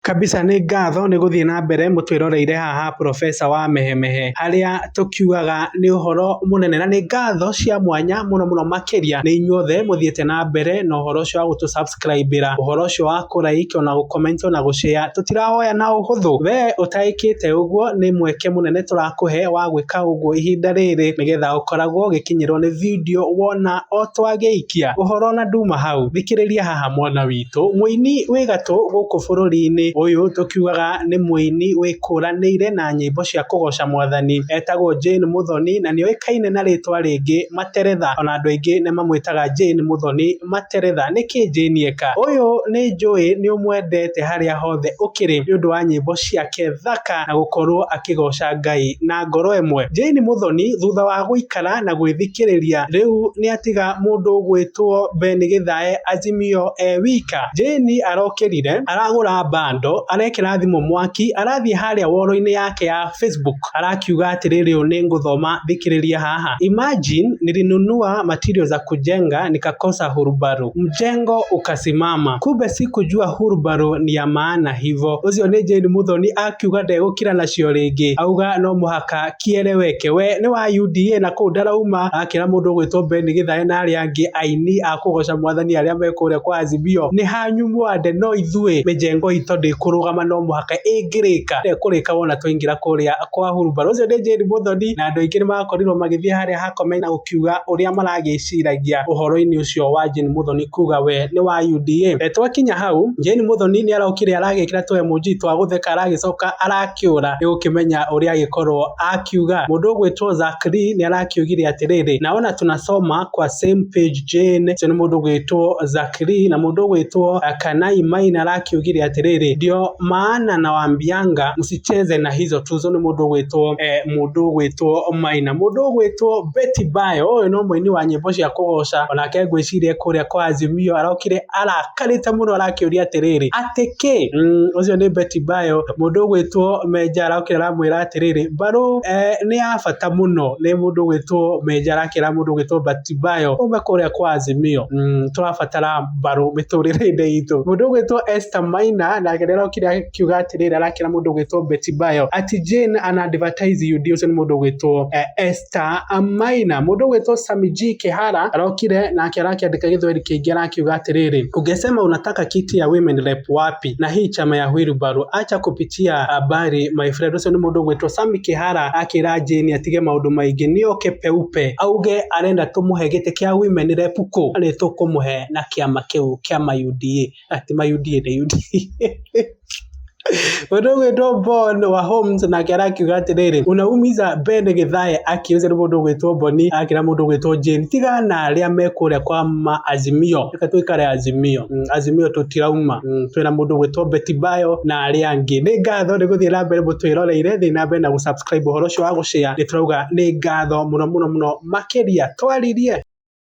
Kabisa nĩ ngatho nĩ gũthiĩ na mbere mũtwĩroreire haha professor wa mehemehe harĩa tũkiugaga nĩ ũhoro mũnene na nĩ ngatho cia mwanya mũno mũno makĩria nĩ inyuothe mũthiĩte na mbere na ũhoro ũcio wa gũtũ subscribe ra ũhoro ũcio wa kũ like ona gũ comment ona gũ share tũtirawoya na ũhũthũ we ũtaĩkĩte ũguo nĩ mweke mũnene tũrakũhe wa gwĩka ũguo ihinda rĩrĩ nĩgetha ũkoragwo ũgĩkinyĩrwo nĩ video wona o twagĩikia ũhoro na nduma hau thikĩrĩria haha mwana witũ. witũ. Mũini wĩ gatũ gũkũ bũrũri-inĩ ũyũ tũkiugaga nĩ mũini wĩkũranĩire na nyĩmbo cia kũgoca mwathani etagwo Jane Muthoni na nĩ oĩkaine na rĩtwa rĩngĩ Materetha ona andũ aingĩ nĩ mamwĩtaga Jane Muthoni Materetha. Nĩkĩ Jane eka ũyũ? Nĩ njũĩ nĩ ũmwendete harĩa hothe ũkĩrĩ nĩ ũndũ wa nyĩmbo ciake thaka na gũkorwo akĩgoca Ngai na ngoro ĩmwe. Jane Muthoni thutha wa gũikara. gũikara na gwĩthikĩrĩria. Rĩu nĩatiga mũndũ gwĩtwo Ben Gĩthae Azimio e wika. Jane arokĩrire, aragũra bando, arekĩra thimũ mwaki, arathiĩ harĩa woro-inĩ yake ya Facebook, arakiuga atĩrĩ rĩu nĩngũthoma thikĩrĩria haha. Imagine nilinunua material za kujenga nikakosa hurubaru. Mjengo ukasimama. Kumbe sikujua hurubaru ni ya maana hivo. Ũcio nĩ Jane Muthoni akiuga ndegũkira nacio rĩngĩ. Auga no mũhaka kĩere weke we nĩ wa UDA na kũu ndarauma akĩra mũndũ ũgwĩtwo Ben Gĩthae na arĩa angĩ aini a kũgoca mwathani arĩa me kũrĩa kwa Azimio nĩ hanyu mwande no ithuĩ mĩjengo itũ ndĩkũrũgama no mũhaka ĩngĩrĩka ndekũrĩka wona twaingĩra kũrĩa kwa hurumbarũ ũcio nĩ Jane Mũthoni na andũ aingĩ nĩ makorirwo magĩthiĩ harĩa ha comment na gũkiuga ũrĩa maragĩciragia ũhoro-inĩ ũcio wa Jane Mũthoni kuga we nĩ wa UDA e, twakinya hau Jane Mũthoni nĩ araukire aragĩkĩra tũ emoji twa gũtheka aragĩcoka ara akĩũra nĩ gũkĩmenya ũrĩa agĩkorwo akiuga. Mũndũ ũgwĩtwo Zack Lee nĩ arakiugire atĩrĩrĩ, naona tunasoma kwa same page Jane. Ũcio nĩ mũndũ ũgwĩtwo Zack Lee na mũndũ ũgwĩtwo eh, Kanai Maina arakiugire atĩrĩrĩ, ndio maana na wambianga msicheze na hizo tuzo. Nĩ mũndũ ũgwĩtwo eh, mũndũ ũgwĩtwo Maina. Mũndũ ũgwĩtwo Betty Bayo, ũyũ no mũini wa nyĩmbo cia kũgoca, onake ngwĩciria kũrĩa kwa Azimio arokire ara Arakarĩte mũno arakĩũria atĩrĩrĩ, atĩ kĩ? Mm, ũcio nĩ Beti Bayo, mũndũ ũgwĩtwo Menja arakĩra aramwĩra atĩrĩrĩ, mbarũ eh, nĩ ya bata mũno nĩ mũndũ ũgwĩtwo Menja arakĩra mũndũ ũgwĩtwo Beti Bayo ume kũrĩa kwa Azimio. Mm, tũrabatara mbarũ mĩtũrĩre-inĩ itũ. Mũndũ ũgwĩtwo Esther Maina nake nĩ arokire akiuga atĩrĩrĩ, arakĩra mũndũ ũgwĩtwo Beti Bayo ati Jane an advertise you dear, ũcio nĩ mũndũ ũgwĩtwo eh, Esther Peter Maina, mũndũ ũgwĩtwo Sammy G Kĩhara arokire nake arakĩandĩka gĩthweri kĩingĩ arakiuga atĩrĩrĩ, ungesema unataka kiti ya women rep wapi na hii chama ya wheelbarrow acha kupitia habari my friend. Ũcio nĩ mũndũ ũgwĩtwo Sammy Kĩhara akĩra Jane atige maũndũ maingĩ nĩoke peupe auge arenda tũmũhe gĩtĩ kĩa women rep kũ? Nĩtũkũmũhe na kĩama kĩu kĩa ma UDA. Ati ma UDA nĩ UDA. Mũndũ ũgwĩtwo Bon wa Homes nake arakiuga atĩrĩrĩ, unaumiza Ben Githae akiuze nĩ mũndũ ũgwĩtwo Boni akĩra mũndũ ũgwĩtwo Jane tiga na arĩa me kũrĩa kwa ma Azimio, reka tũikare Azimio mm, Azimio tũtirauma mm, twĩna mũndũ ũgwĩtwo Betty Bayo na arĩa angĩ. Nĩ ngatho nĩ gũthiĩ na mbere mũtwĩroreire, thiĩ na mbere na gũsubscribe ũhoro ũcio wa gũshare, nĩ tũrauga nĩ ngatho mũno mũno mũno makĩria twaririe.